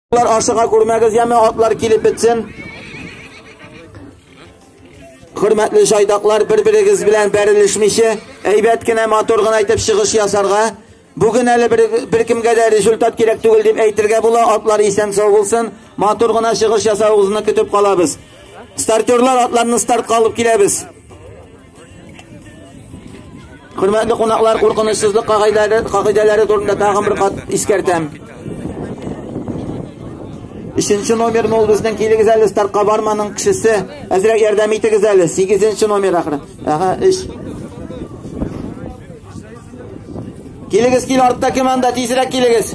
Атлар ашыга күрмәгез, яме атлар килеп бетсен. Хөрмәтле шайдаклар, бер-берегез белән бәрелешмичә, әйбәт кенә матур гына итеп чыгыш ясарга. Бүген әле бер, бер кемгә дә результат кирәк түгел дип әйтергә була. Атлар исән сау булсын. Матур гына чыгыш ясавыгызны көтеп калабыз. Стартерлар атларны стартка алып киләбез. Хөрмәтле кунаклар, куркынычсызлык кагыйдәләре, кагыйдәләре турында тагын бер кат искәртәм. Өченче номер ул безнең килегез әле стартка барманың кешесе. Әзрәк ярдәм итегез әле. 8 номер ахыры. Ага, 3. Килегез кил артта кем анда тизрәк килегез.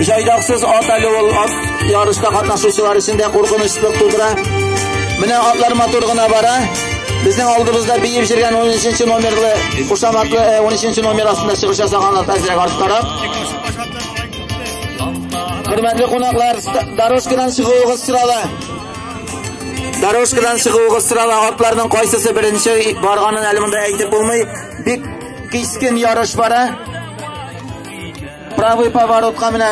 Җайдаксыз ат әле ул ат ярышта катнашучылар өчен дә куркынычлык тудыра. Менә атлар матур гына бара. Безнең алдыбызда биеп җөргән 13 номерлы кушаматлы 13 номер астында чыгыш ясаган ат әзрәк арттарак. Хөрмәтле кунаклар, дорожкадан чыгуыгыз сорала. Дорожкадан чыгуыгыз сорала. Атларның кайсысы беренче барганын әле монда әйтеп булмый. Бик кискен ярыш бара. Правый поворотка менә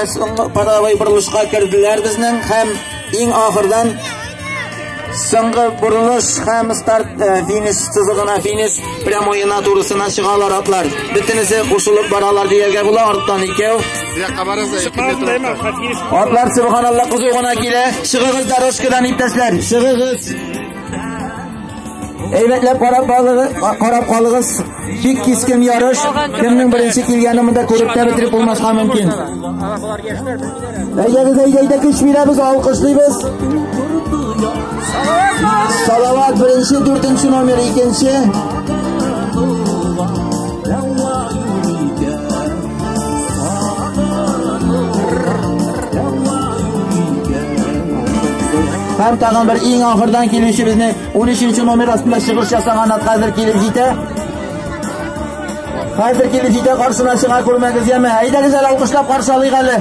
правый борылышка керделәр безнең һәм иң ахырдан соңгы борылыш һәм старт финиш сызыгына финиш прямоена турысына чыгалар атлар. Бөтенесе кушылып баралар дияргә була арттан икәү. Атлар субханалла кызу гына килә. Чыгыгыз дорожкадан иптәшләр. Чыгыгыз. Әйбәтләп карап калыгыз, карап калыгыз. Бик кискен ярыш, кемнең беренче килгәне монда күреп тә бетереп булмаска мөмкин. Әйдәгез, әйдәгез, көч бирәбез, алкышлыйбыз. Салават беренче, дүртенче номер, икенче. Һәм тагын бер иң ахырдан килүче безне 13 номер астында чыгыш ясаган ат хәзер килеп җитә. Хәзер килеп җитә каршына чыга күрмәгез яме. Әйдәгез әле алкышлап каршы алыйк әле.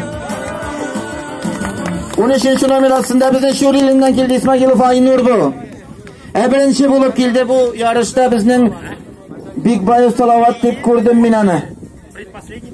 13 номер астында безнең Шур иленнән килде Исмагилов Айнур бу. Ә беренче булып килде бу ярышта безнең Бикбаев Салават дип күрдем мин аны. Предпоследний